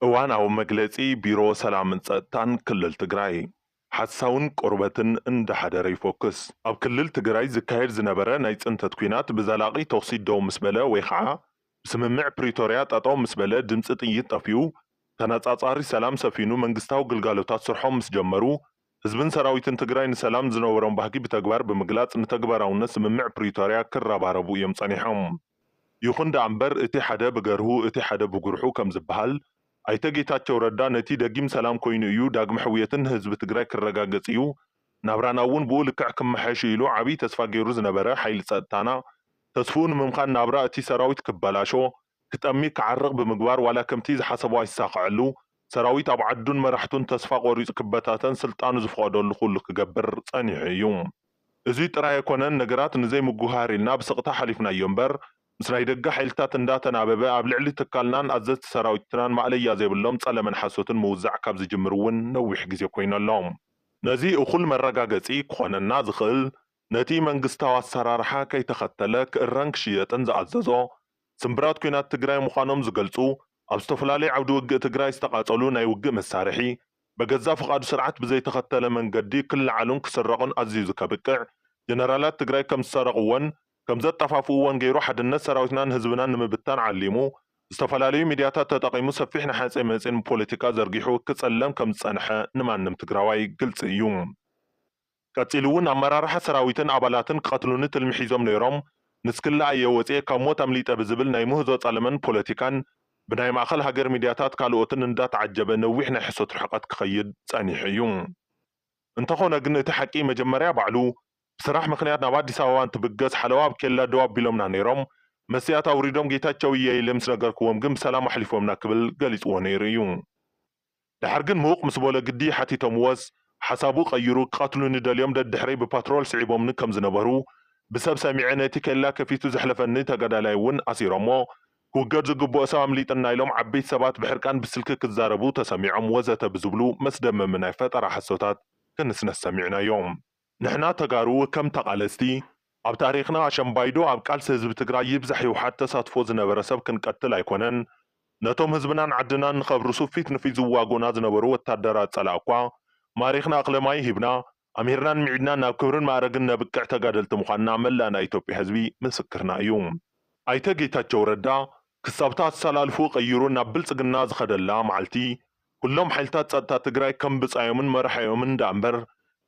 እዋናዊ መግለፂ ቢሮ ሰላምን ፀጥታን ክልል ትግራይ። ሓሳውን ቆርበትን እንዳሓደረ ይፎክስ። ኣብ ክልል ትግራይ ዝካየድ ዝነበረ ናይ ፅንተት ኲናት ብዘላቒ ተኹሲ ደው ምስ በለ ወይ ኻዓ ብስምምዕ ፕሪቶርያ ጠጠው ምስ በለ ድምፂ ጥይት ጠፊኡ ተነፃፃሪ ሰላም ሰፊኑ መንግስታዊ ግልጋሎታት ስርሖም ምስ ጀመሩ ህዝብን ሰራዊትን ትግራይ ንሰላም ዝነበሮም ባህጊ ብተግባር ብምግላፅ ንተግባራውነት ስምምዕ ፕሪቶርያ ክረባረቡ እዮም ፀኒሖም። ይኹን ደኣ እምበር እቲ ሓደ ብገርሁ እቲ ሓደ ብጉርሑ ከምዝበሃል ኣይተ ጌታቸው ረዳ ነቲ ደጊም ሰላም ኮይኑ እዩ ዳግም ሕውየትን ንህዝቢ ትግራይ ክረጋገፅ እዩ ናብራና እውን ብኡ ልክዕ ክመሓየሽ እዩ ኢሉ ዓብይ ተስፋ ገይሩ ዝነበረ ሓይሊ ፀጥታና ተስፍኡ ንምምካን ናብራ እቲ ሰራዊት ክበላሾ ክጠሚ ክዓርቕ ብምግባር ዋላ ከምቲ ዝሓሰቦ ኣይሳኸዐሉ፣ ሰራዊት ኣብ ዓዱን መራሕቱን ተስፋ ቆሪጹ ክበታተን ስልጣኑ ዝፍቐደሉ ኩሉ ክገብር ጸኒሑ እዩ። እዙይ ጥራይ ኣይኮነን ነገራት ንዘይምጉህሃር ኢልና ብስቕታ ሓሊፍናዮ እምበር ምስ ናይ ደገ ሓይልታት እንዳተናበበ ኣብ ልዕሊ ትካልናን ኣዘዝቲ ሰራዊትትናን ማእለያ ዘይብሎም ጸለመን ሓሶትን ምውዛዕ ካብ ዝጅምር እውን ነዊሕ ግዜ ኮይኑ ኣሎ። ነዚ እኹል መረጋገጺ ክኾነና ዝኽእል ነቲ መንግስታዊ ኣሰራርሓ ከይተኸተለ ክእረን ክሽየጥን ዝኣዘዞ ስምብራት ኲናት ትግራይ ምዃኖም ዝገልፁ ኣብ ዝተፈላለዩ ዓውዲ ውግእ ትግራይ ዝተቓፀሉ ናይ ውግእ መሳርሒ በገዛእ ፍቓዱ ስርዓት ብዘይተኸተለ መንገዲ ክለዓሉን ክስረቑን ኣዚዙ ከብቅዕ ጀነራላት ትግራይ ከምዝሰረቑዎን ከምዘጠፋፍኡዎን ገይሩ ሓድነት ሰራዊትናን ህዝብናን ንምብታን ዓሊሙ ዝተፈላለዩ ሚድያታት ተጠቒሙ ሰፊሕ ናይ ሓፂን መፂን ፖለቲካ ዘርጊሑ ክፀለም ከምዝፀንሐ ንማንም ትግራዋይ ግልፂ እዩ። ቀጺሉ ውን ኣመራርሓ ሰራዊትን ኣባላትን ክቐትሉኒ ትልሚ ሒዞም ነይሮም፣ ንስክላ ኣየ ወጺኤ ካብ ሞት ኣምሊጠ ብዝብል ናይ ምህዞ ጸለመን ፖለቲካን ብናይ ማእኸል ሃገር ሚድያታት ካልኦትን እንዳተዓጀበ ነዊሕ ናይ ሕሶት ርሕቐት ክኸይድ ጸኒሑ እዩ። እንተኾነ ግን እቲ ሓቂ መጀመርያ ባዕሉ ብስራሕ ምኽንያት ናብ ኣዲስ ኣበባ እንትብገስ ሓለዋ ኣብ ኬላ ደው ኣቢሎምና ነይሮም፣ መስትያት ኣውሪዶም ጌታቸው እየ ኢለ ምስ ነገርክዎም ግን ብሰላም ኣሕሊፎምና ክብል ገሊጽዎ ነይሩ እዩ። ደሓር ግን ምውቕ ምስ በሎ ግዲ ሓቲቶምዎስ ሓሳቡ ቀይሩ ክቐትሉኒ ደልዮም ደድሕረይ ብፓትሮል ስዒቦምኒ ከም ዝነበሩ ብሰብ ሰሚዐ ነቲ ኬላ ከፊቱ ዘሕለፈኒ ተጋዳላይ እውን ኣሲሮሞ ክውገድ ዝግብኦ ሰብ ኣምሊጥና ኢሎም ዓበይቲ ሰባት ብሕርቃን ብስልኪ ክዛረቡ ተሰሚዖም ወዘተ ብዝብሉ መስደመሚ ናይ ፈጠራ ሓሶታት ክንስነስ ሰሚዕናዮም። ንሕና ተጋሩ ከም ተቃለስቲ ኣብ ታሪኽና ኣሸምባይዶ ኣብ ቃልሲ ህዝቢ ትግራይ ይብዛሕ ይውሓድ ተሳትፎ ዝነበረ ሰብ ክንቀትል ኣይኮነን ነቶም ህዝብናን ዓድናን ንኸብርሱ ፊት ንፊት ዝዋጎና ዝነበሩ ወታደራት ፀላእኳ ማሪኽና እኽለ ማይ ሂብና ኣምሂርናን ምዒድናን ናብ ክብርን ማእረግን ነብቅዕ ተጋደልቲ ምዃንና መላእ ናይ ኢትዮጵያ ህዝቢ ምስክርና እዩ። ኣይተ ጌታቸው ረዳ ክሳብታ ኣሰላልፍኡ ቀይሩ ናብ ብልፅግና ዝኸደላ መዓልቲ ኩሎም ሓይልታት ፀጥታ ትግራይ ከም ብፃዮምን መራሒኦምን ደኣምበር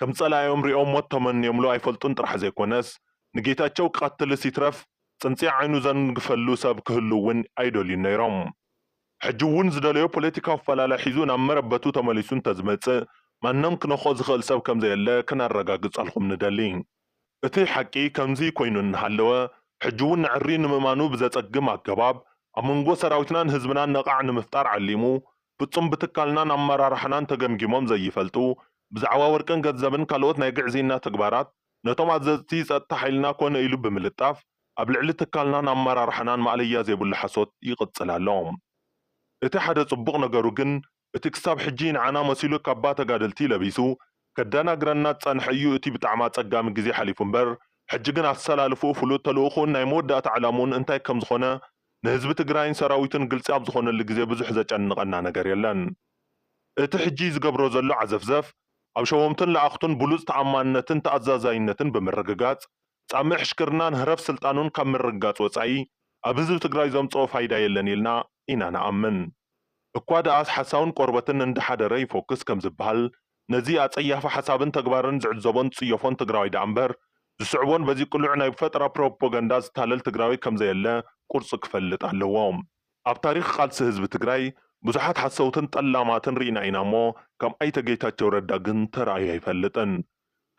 ከም ፀላኢኦም ሪኦም ሞት ተመንዮምሉ ኣይፈልጡን ጥራሕ ዘይኮነስ ንጌታቸው ክቐትልስ ይትረፍ ፅንፅያ ዓይኑ ዘንግፈሉ ሰብ ክህሉ እውን ኣይደልዩን ነይሮም። ሕጂ እውን ዝደለዮ ፖለቲካዊ ኣፈላላይ ሒዙ ናብ መረበቱ ተመሊሱ እንተዝመፅእ ማንም ክነክኦ ዝኽእል ሰብ ከምዘየለ ከነረጋግፀልኹም ንደሊ። እቲ ሓቂ ከምዚ ኮይኑ እናሃለወ፣ ሕጂ'ውን ንዕሪ ንምእማኑ ብዘጸግም ኣገባብ፣ ኣብ መንጎ ሰራዊትናን ህዝብናን ነቓዕ ንምፍጣር ዓሊሙ፣ ፍጹም ብትካልናን ኣመራርሓናን ተገምጊሞም ዘይፈልጡ፣ ብዛዕባ ወርቅን ገንዘብን ካልኦት ናይ ግዕዝይና ተግባራት፣ ነቶም ኣዘዝቲ ጸጥታ ሓይልና ኮነ ኢሉ ብምልጣፍ፣ ኣብ ልዕሊ ትካልናን ኣመራርሓናን ማእለያ ዘይብሉ ሓሶት ይቕጽል ኣሎ። እቲ ሓደ ጽቡቕ ነገሩ ግን፣ እቲ ክሳብ ሕጂ ንዓና መሲሉ ካባ ተጋደልቲ ለቢሱ ከዳናግረና ዝጸንሐ እዩ እቲ ብጣዕሚ ኣጸጋሚ ግዜ ሓሊፉ እምበር ሕጂ ግን ኣሰላልፍኡ ፍሉጥ ተልእኹኡን ናይ መወዳእታ ዕላምኡን እንታይ ከምዝኾነ ንህዝቢ ትግራይን ሰራዊቱን ግልጺ ኣብ ዝኾነሉ ግዜ ብዙሕ ዘጨንቀና ነገር የለን እቲ ሕጂ ዝገብሮ ዘሎ ዓዘፍዘፍ ኣብ ሸወምቱን ለኣኽቱን ብሉጽ ተኣማንነትን ተኣዛዛይነትን ብምርግጋጽ ጻምእ ሕሽክርናን ህረፍ ስልጣኑን ካብ ምርግጋጽ ወጻኢ ኣብ ህዝቢ ትግራይ ዘምጽኦ ፋይዳ የለን ኢልና ኢና ንኣምን። እኳ ደኣስ ሓሳውን ቆርበትን እንዳ ሓደረ ይፎክስ ከም ዝብሃል፣ ነዚ ኣጸያፊ ሓሳብን ተግባርን ዝዕዘቦን ዝጽዮፎን ትግራዋይ ደኣ እምበር፣ ዝስዕቦን በዚ ቅሉዕ ናይ ፈጠራ ፕሮፖጋንዳ ዝታለል ትግራዋይ ከም ዘየለ ቁርጺ ክፈልጥ ኣለዎ። ኣብ ታሪኽ ቃልሲ ህዝቢ ትግራይ ብዙሓት ሓሰውትን ጠላማትን ርኢና ኢና እሞ፣ ከም ኣይተ ጌታቸው ረዳ ግን ተራእዩ ኣይፈልጥን።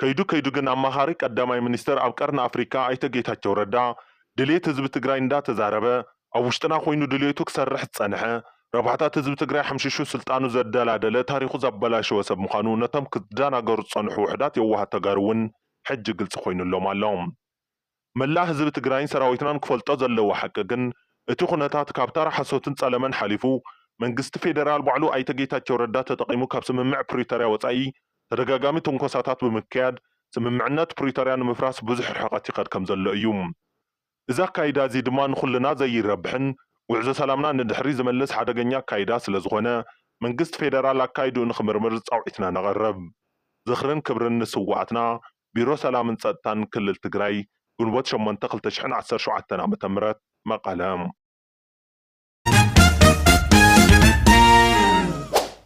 ከይዱ ከይዱ ግን ኣማኻሪ ቀዳማይ ሚኒስትር ኣብ ቀርኒ ኣፍሪካ ኣይተ ጌታቸው ረዳ ድልየት ህዝቢ ትግራይ እንዳተዛረበ ኣብ ውሽጥና ኮይኑ ድልየቱ ክሰርሕ ዝፀነሐ ረብሓታት ህዝቢ ትግራይ ሓምሺሹ ስልጣኑ ዘደላደለ ታሪኹ ዘበላሸወ ሰብ ምዃኑ ነቶም ክደናገሩ ዝፀንሑ ውሑዳት የዋሃት ተጋሩ እውን ሕጂ ግልፂ ኮይኑሎም ኣሎ። መላእ ህዝቢ ትግራይን ሰራዊትናን ክፈልጦ ዘለዎ ሓቂ ግን እቲ ኩነታት ካብ ተራ ሓሶትን ፀለመን ሓሊፉ መንግስቲ ፌዴራል ባዕሉ ኣይተ ጌታቸው ረዳ ተጠቒሙ ካብ ስምምዕ ፕሪቶርያ ወፃኢ ተደጋጋሚ ትንኮሳታት ብምክያድ ስምምዕነት ፕሪቶርያ ንምፍራስ ብዙሕ ርሕቐት ይኸድ ከምዘሎ እዩ። እዚ ኣካይዳ እዚ ድማ ንኹልና ዘይረብሕን ጉዕዞ ሰላምና ንድሕሪት ዝመልስ ሓደገኛ ኣካይዳ ስለዝኾነ መንግስቲ ፌዴራል ኣካይድኡ ንኽምርምር ፃውዒትና ነቕርብ። ዝኽርን ክብርን ንስውኣትና! ቢሮ ሰላምን ፀጥታን ክልል ትግራይ፣ ግንቦት ሸሞንተ ክልተ ሽሕን ዓሰርተ ሸውዓተን ዓ ም መቐለ።